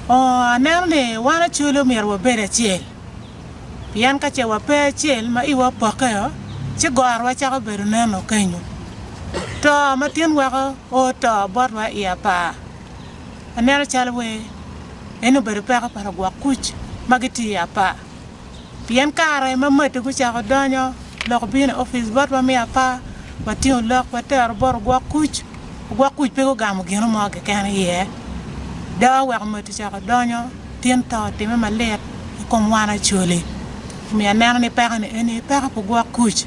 Oo, aneno ni wan acwele omyero wabed acel, pien ka ce wape acel ma iwa opokke-o, ci gorowa cako bedo neno kenyo. To ma tin weko o to botwa i apar. Aneno calo wer eni obedo peko pa lugwok kuc ma gitye i apar. Pien kare ma matti gucako donyo lok obino i opic botwa me apar, watingo lok watero bot ogwok kuc. Ogwok kuc pe gugamo gino mo keken iye. Dawa oweko matti ocako donyo, tin to otimme malit i kom wan Acholi. Omiyo aneno ni pekoni eni peko pa ogwok kuc.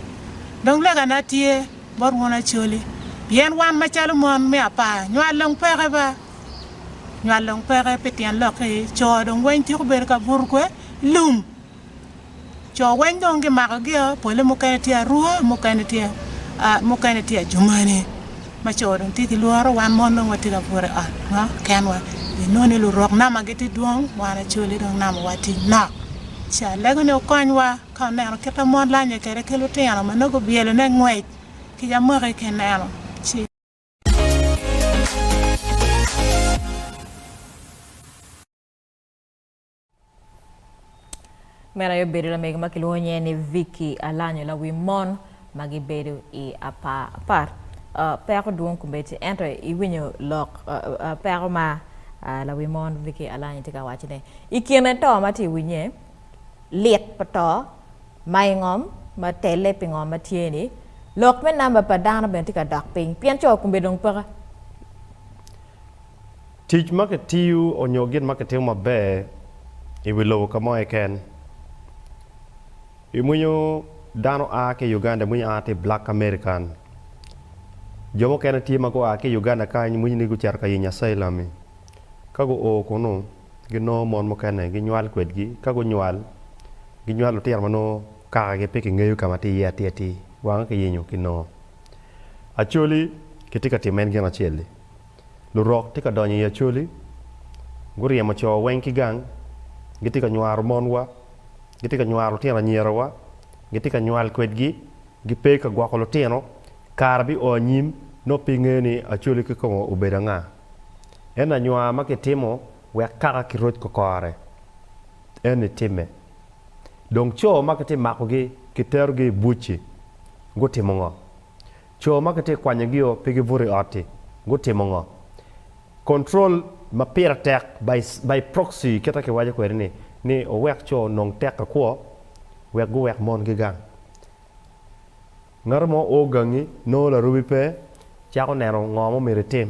Dong legana tye bot wun Acholi, pien wan macalo mon me apar nywal dong peke ba. Nywal dong peke pi tyen lok-ki, co dong weng tyeko bedo ka buto kwe lum. Co weng dong gimako gio, pole mukene tye arua, mukene tye mukene tye ajumani. Ma co dong tye ki lworo, wan mon dong watye ka buto i ot ma kenwa. Pi nongo ni lurok nama gitye dwong, wan Acholi dong namawa tye nok. Ci alego ni wukonywa ka wuneno kit ma mon lanye kwede ki lutino ma nongo gubyelone ngwec kica mwaki ki neno. Ci. Meno aye obedo lamego ma kilwongo nyinge ni Vicky Alanyo lawi mon ma gibedo i apar apar. Uh, peko dwong komiti ento iwinyo lok uh, uh, peko ma uh, lawi mon Vicky Alanyo tye ka wacone i kine to ma tye i winye lit pa to ma i ngom ma telle pi ngom ma tye-ni, lok me namba pa dano bene tye ka dok piny pien co kome dong peke. Tic ma kitiyo onyo gin ma kitimo maber i wi lobo ka mo keken. I mwinyo dano a ki i Uganda, i mwinyo a ti black American. Jo mukene tye ma gua ki i Uganda kany mwinyo ni guceto ka yenyo asylum-mi. Ka guo kunu. ginongo mon mukene ginywal kwedgi. Ka gunywal, ginywalo lutino ma nongo kakagi pe kingeyo ka ma tye iye atir atir, wange kiyenyo ki nongo. Acholi kitye ka timo en gin acel-li. Lurok tye ka donyo i acholi, guryemo co weng ki gang, gitye ka nywaro monwa, gitye ka nywaro lutino anyierawa, gitye ka nywal kwedgi, gipe ka gwoko lutino. Kare bio anyim, nongo pe ingeyo ni acholi kikome obedo anga. En anywa ma kitimo wek kaka kiroc kokore, en itimme. Dong co ma kitye makogi kiterogi i buc-ci gutimo ngo? Co ma kitye kwanyogio pe gibuto i ot-ti gutimo ngo? Control ma pire tek, by, by proxy kite kiwaco kwede-ni, ni owek co onong teko kwo wek guwek mongi gang. Ngat mo oo gangi, nongo larubi pe, cako neno ngo ma omyero itim.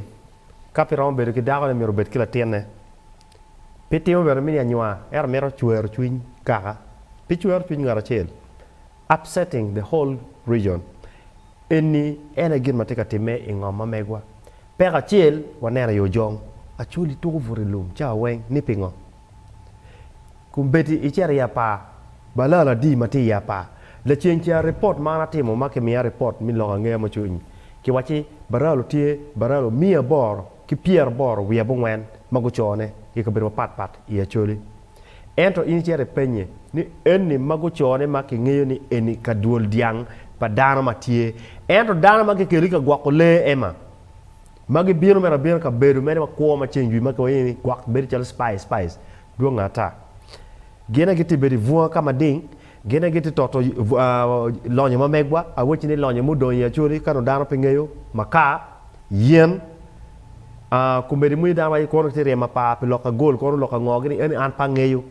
Ka pe iromo bedo ki dakone myero obed ki latinne. Pe itimo bene mini anywaa, ento mito cwero cwiny kaka. Pe icwero cwiny ngat acel. Upsetting the whole region. Enni en aye gin ma tye ka timme i ngom ma megwa. Peko acel waneno i Ojong, Acholi tuko but i lum cawa weng, ni pingo? Kun bedi icito i apar, balal adi ma tye i apar. Laceng ca ripot ma an atimo ma kimiya ripot me lok angeya me cwiny, kiwacci baralo tye baralo miya aboro ki pyeraboro wiye abongwen ma gucone i kabedo mapat pat i Acholi. Ento in icito ipenye ni enni ma gucone ma kingeyo ni eni ka dwol dyang pa dano ma tye, ento dano ma kikelo i ka gwoko lee ema ma gibino mito abina kabedo meno ma kwo ma ceng jwi ma kiwaci ni gwok bedo calo spice spice dwonge ata. Gine gitye bedo i bunga ka mading, gine gitye toto lonyo ma megwa, awacci ni lonyo ma odongo i Acholi ka nongo dano pe ngeyo, makar, yen, komedi moni dano aye kwono gitye ryemo apar pi loka gol kono loka ngo gini eni an pe angeyo.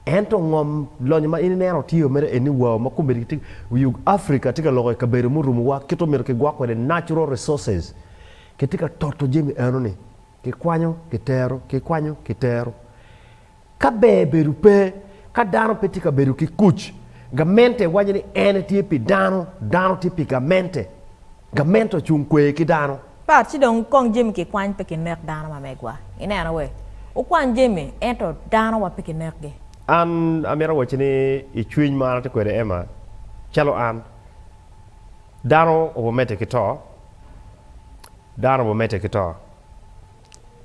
Ento ngom lonyo ma in ineno tye o mere eni wau ma komedi gitye i ug Africa tye ka loko i kabedo murumo wa kit omyero kigwok kwede natural resources kitye ka toto jami eno ni Kikwanyo, kitero, kikwanyo, kitero. Ka ber bedo pe, ka dano pe tye ka bedo ki kuc, gamente waco ni en tye pi dano, dano tye pi gamente. Gamente ocung kwer ki dano. Pat, ci dong kong jami kikwany pe kinek dano ma megwa. I neno we? Wukwany jami, ento dano wa pe kinekgi. An amito awacci ni i cwiny ma an atye kwede Emma, calo an, dano obo mete ki to. Dano obimedde ki to.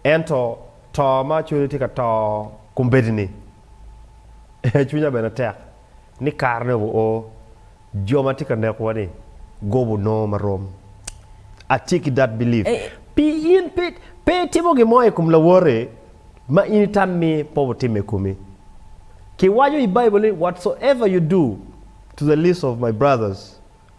Ento to ma cwinyi tye ka to kombeddi-ni, cwinya bene tek ni karene obio o. Jo ma tye ka nekowa-ni gubo nongo ma rom. I stick it that belief. Pi in pe itimo gin mo i kom lawote ma in itammi pe obitimme i komi. Kiwaco i Baibul ni, Whatsoever you do to the least of my brothers,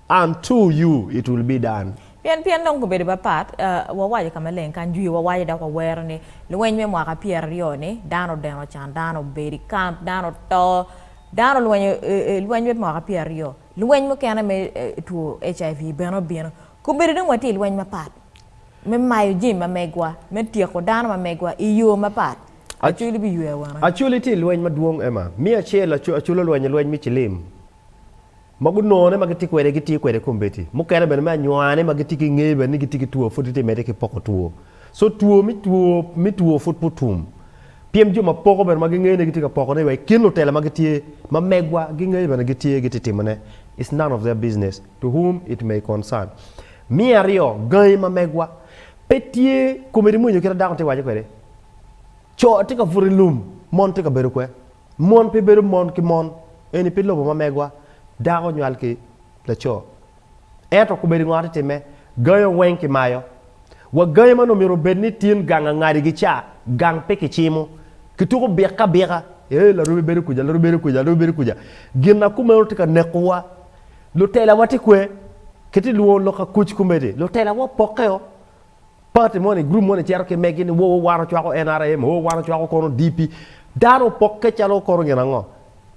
An two you it will be done. Pien pien dong gubedo bapat, wawaco ka maleng kany jwi wawaco dok wawero ni lweny me mwaka pyera ryo ni dano deno can dano obedo i camp dano to dano lweny lweny me mwaka pyera ryo lweny mukene me two HIV bene obino ku bedo dong watye i lweny mapat me mayo jami ma megwa me tyeko dano ma megwa i yo mapat Acoli biywe awene. Acoli tye lweny madwong Emma, me acel Acoli olwenyo lweny me cilim. ma gunone ma gitye kwede gitiyo kwede kombeddi mukene bene me anywani ma gitye ki ngeyo bene ni gitye ki two pud gitye mede ki poko two so two me two me two pud pe otum pien jo ma poko bene ma gingeyo ni gitye ka poko ne wa i kin lutela ma gitye ma megwa gingeyo bene gitye gitye timo ne it's none of their business to whom it may concern me aryo gangi ma megwa pe tye kombeddi mwinyo kit ma dako tye ka waco kwede co tye ka buto i lum mon tye ka bedo kwe. Mon pe bedo mon ki mon, eni pe lobo ma megwa, dako nywal ki laco. Ento kobed i ngot itimme, gayo weng kimayo. Wa gayo man omyero obed ni tin gang angadi gi ca, gang pe kicimo. Kituko bika abika, ee larubi bedo kuca, larubi bedo kuca, larubi bedo kuca. Gin ma kumeno tye ka neko wa. Lutelawa tye kwe? Kiti lwongo lok akuc komedi, lutelawa opokke o. Party moni, group moni cito ki megi ni woo wan ocwako NRM, oo wan ocwako kono DP. Dano opokke calo kono gin ango?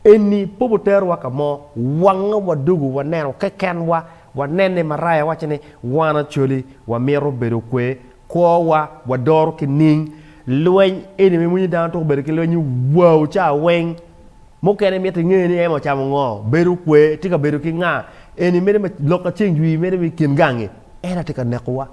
Eni pe oterowa ka mo, wange wadugu waneno kekenwa, wanene i maraya waco ni wan Acholi wamito bedo kwe, kwowa wadoro ki ning. Lweny eni ma iwinyo dano tuko bedo ki lweny ni wau ca weng. Mukene imito inge ni Emma ocamo ngo, bedo okwe, tye ka bedo ki nga, eni mene ma lok ka ceng jwii mene me kin gangi. En aye tye ka neko wa.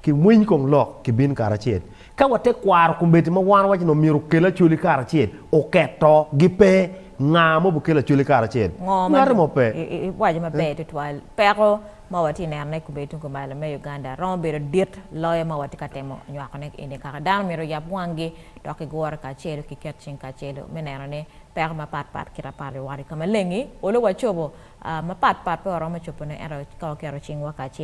Ki winy kong lok ki bin karacel. Ka wa te kwaro kombeddi ma wan waco ni omyero okel acholi karacel, oketo gi pe nga mo bi kelo acholi karacel. Ngo ma Ngati mo pe. iwaco maber tutwal. Peko ma wa tye neno ne kombeddi tung kumalo me Uganda romo bedo dit loyo ma wa tye ka temo nywako ne eni kaka dano myero oyab wang gi. dok gigure kacelu ki ket cing kacelu me neno ni peko mapat pat kit apar biwari ka maleng-ngi olo wacobo mapat pat pe waromo cobone ento ka waketo cingwa kacel.